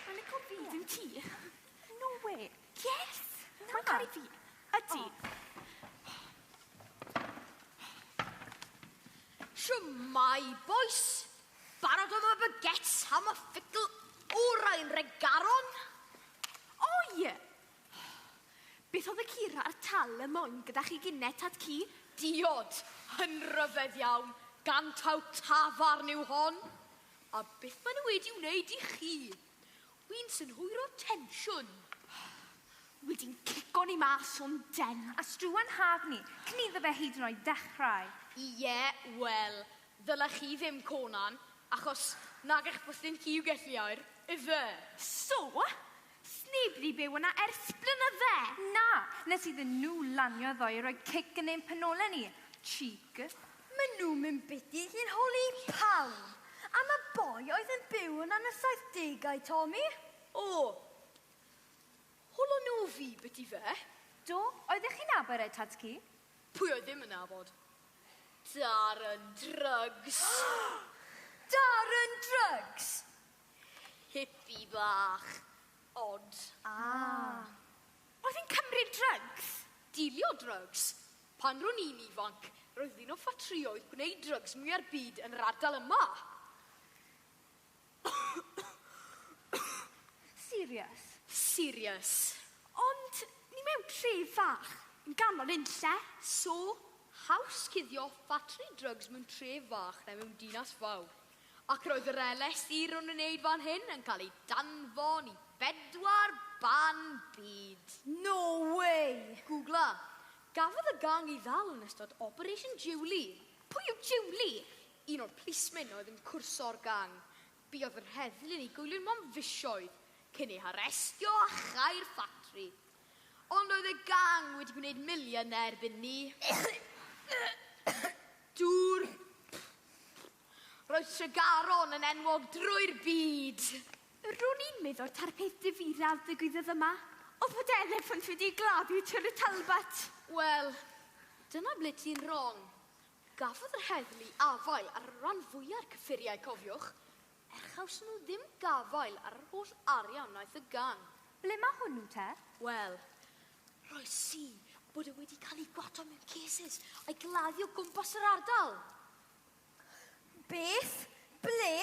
Mae'n lico fi, dim ti. No way. Yes! Na. Mae'n caru fi. Ydi. Shwmai, bois. Barod am y baguettes am y ffugl orau'n regaron? Oi! Beth oedd y cura a'r tal y moyn gyda chi gine, tad cu? Diod! Yn ryfedd iawn, gan taw tafarn yw hon! A beth maen nhw wedi wneud i chi? Wi'n synhwyro tensiwn. Wedi'n cico ni mas o'n den. A struan haf ni, cyn iddo fe hyd yn oed ddechrau. Ie, wel, ddylech chi ddim, Conan, achos nag eich bwthyn chi yw gelliau'r, ife? So, Sneb di byw yna ers blynydde! Na! Nes iddyn nhw lanio ddoe i roi cic yn ein penolau ni. Cheek. Maen nhw'n mynd biti i'n holi i pawb! Am y boi oedd yn byw yna yn y saithdegau, Tommy? O! Holon nhw fi biti 'fe? Do, oeddech chi'n nabod e, tad-cu? Pwy oedd ddim yn nabod? Darren Drugs! Darren Drugs! Hippie bach. Odd. Ah. Oedd yn cymryd drygs? Dilio drygs? Pan ro'n i'n ifanc, roedd un o ffatrïoedd gwneud drygs mwya'r byd yn yr ardal yma. Serious? Serious. Ond ni mewn tref fach, yn ganol unlle. So, haws cuddio ffatri drygs mewn tref fach na mewn dinas fawr. Ac roedd yr LSD ro'n i'n wneud fan hyn yn cael ei danfon i bedwar ban byd. No way! Gwgla. Gafodd y gang ei ddal yn ystod Operation Julie. Pwy yw Julie? Un o'r plismyn oedd yn cwrso'r gang. Buodd yr heddlu yn ei goelio am fisoedd cyn ei harestio a chau'r ffatri. Ond oedd y gang wedi gwneud miliynau erbyn 'ny. Dŵr. Roedd Tregaron yn enwog drwy'r byd! Ro'n i'n meddwl ta'r peth difyraf ddigwyddodd yma oedd fod eleffant wedi gladdu Tŷ Rhys Talbot! Wel, dyna ble ti'n rong. Gafodd yr heddlu afael ar y ran fwya'r cyffuriau cofiwch, er chawson nhw ddim gafael ar yr holl arian wnaeth y gang. Ble mae hwnnw te? Wel, rhoi si bod e wedi cael ei gwato mewn cases a'i gladdu o gwmpas yr ardal. Beth? Ble?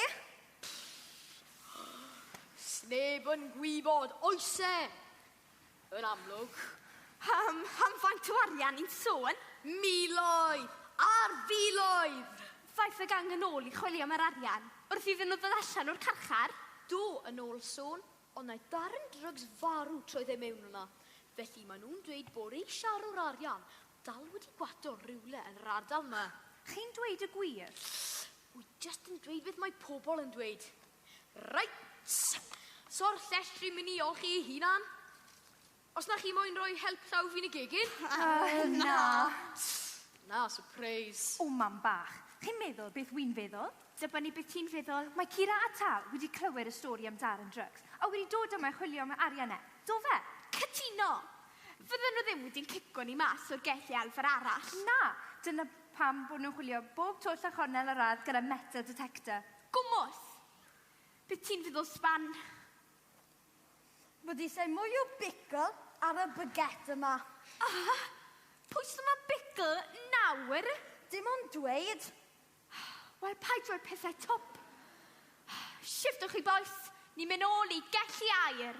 Sneb yn gwybod, oes e? Yn amlwg. Am, am faint o arian ni'n sôn? Miloedd! Ar filoedd! Ddaeth y gang yn ôl i chwilio am yr arian, wrth iddyn nhw ddod allan o'r carchar. Do, yn ôl sôn, ond naeth darn drygs farw troedd e mewn yna. Felly, maen nhw'n dweud bod eisiau rho'r arian, Dal wedi gwato rywle yn yr ardal 'ma. Chi'n dweud y gwir? Wi jyst yn dweud beth mae pobl yn dweud. Reit! So'r llestri myn' i olchi ei hunan? Os na chi moyn roi help llaw fi'n y gegin? Yy, na. Na, sypreis. O, mam bach. Chi'n meddwl beth wi'n feddwl? Dibynnu beth ti'n feddwl. Mae Kira a Tal wedi clywed y stori am Darren Drugs a wedi dod yma i chwilio am yr arian 'na. Do fe? Cytuno! Fydden nhw ddim wedi cico ni mas o'r gell i elfen arall. Na! Dyna pam bod nhw'n chwilio bob twll a chornel yr ardd gyda metal detector. Gwmws! Be ti'n feddwl, Sban? Bod eisiau mwy o bicl ar y baguette yma. Aha! Pwy sy'n mo'n bicl nawr? Dim ond dweud. Wel, paid rhoi pethau twp. Shiftwch chi bois, ni'n mynd ôl i gelli air.